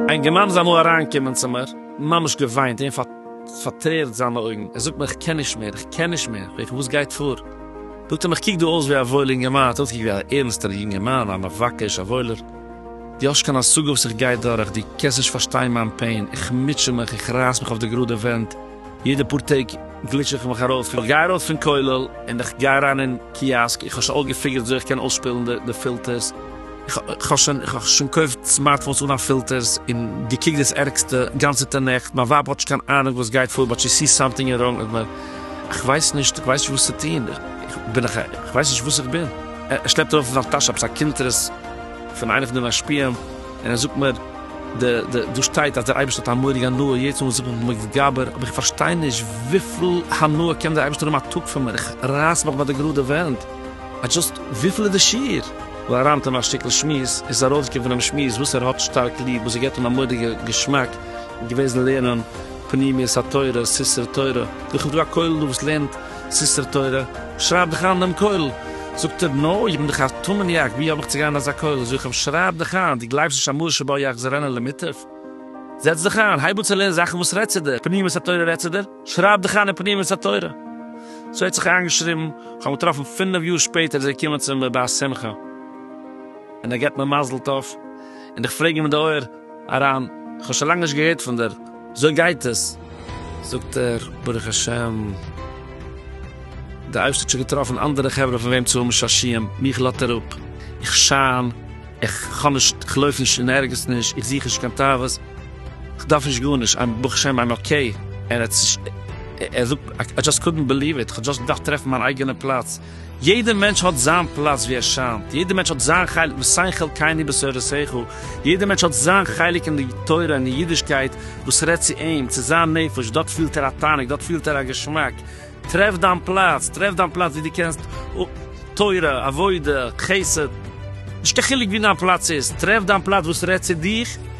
איין גערמאן איז אמאל אריינגעקומען צו מיר, ממש געוויינט און פארטרערט זיינע אויגן, ער זאגט מיר איך קען נישט מער, איך קען נישט מער, איך וואס גייט פאר? זאגט ער מיר איך קוק דא אויס ווי א וואוילער אינגערמאן, האט אויסגעקוקט ווי א ערנסטער יונגערמאן, א מבקש, א וואוילער. דו האסט קיין השגה וואס איך גיי דורך, דו קענסט נישט פארשטיין מיין פעין, איך מוטשע מיך, איך רייס מיך אויף די גראדע ווענט, יעדע פאר טעג גליטש איך מיך ארויס, איך גיי ארויס פון כולל און איך גיי אריין אין קיאסק, איך האב שוין אויסגעפיגערט וויאזוי איך קען אויסשפילן די פילטערס, איך האב שוין געקויפט סמארטפאונס אן א פילטערס און געקוקט דאס ערגסטע גאנצעטע נעכט, מיין ווייב האט נישט קיין אהנונג וואס גייט פאר באט שי סיס סאמטינג איז ראנג מיט מיר, איך ווייס נישט, איך ווייס נישט וואס צו טון, איך בין איך ווייס נישט וואס איך בין, ער שלעפט ארויף פון זיין טאש עפעס א קונטרס. פון איינע פון די משפיעים, און ער זאגט מיר, די, די, דא שטייט אז דער אייבערשטער האט א מורג הנאה יעצט מוז איך מיך מתגבר, אבער איך פארשטיי נישט וויפיל הנאה קען דער אייבערשטער האבן א טאג פון מיר, איך רייס מיך ביי די גראדע ווענט, איי דזשאסט, וויפיל איז די שיעור? ווי אריין טון א שטיקל שמועס, איז ארויסגעקומען פונעם שמועס וואס ער האט שטארק ליב, וואס עס געבט אים א מורא'דיגע געשמאק, געוועזן לערנען פנימיות התורה, ספרי תורה, וכדו' א כולל דא וואס לערנט. סיסטער תורה, שרייב דיך איין דעם כולל. זאגט ער, נו, איך בין דאך א תמ'ניאק, ווי האב איך צו גיין אין אזא כולל? זאג איך אים, שרייב דיך איין, דו גלייבסט נישט אז משה שבא יחזרנה למיטב? זעץ דיך איין, הייב אן צו לערנען זאכן וואס רעדט צו דיר, פנימיות התורה רעדט צו דיר, שרייב דיך איין אין פנימיות התורה. סאו ער האט זיך איינגעשריבן, כ'האב אים געטראפן פינף יאר שפעטער איז ער געקומען צו מיר ביי א שמחה, און ער געבט מיר מזל טוב, און איך פרעג אים אין די אויער, אריין, כ'האב שוין לאנג נישט געהערט פון דיר, אזוי גייט עס? זאגט ער, ברוך השם, דער אייבערשטער האט שוין געטראפן אנדערע חברה פון וועם צו האבן שעשיעם, מיך לאזט ער אפ, איך שיין, איך האב נישט, איך לויף נישט אין ערגעץ נישט, איך זוך נישט קיין תאוות, כ'דארף נישט גארנישט, איים ברוך השם איים אקעי, ער זאגט, איי דזשאסט קאדנט בעליוו איט, כ'האב דזשאסט געדארפט טרעפן מיין אייגענע פלאץ. יעדער מענטש האט זיין פלאץ ווי ער שיינט, יעדער מענטש האט זיין חלק מסייעין חלקינו בתורתך, יעדער מענטש האט זיין חלק אין די תורה און אין אידישקייט וואס רעדט צו אים, צו זיין נפש, דארט פילט ער א תענוג, דארט פילט ער א געשמאק, טרעף דיין פלאץ, טרעף דיין פלאץ ווי דו קענסט תורה, עבודה, חסד, נישט קיין חילוק ווי דיין פלאץ איז, טרעף דיין פלאץ וואס רעדט צו דיך.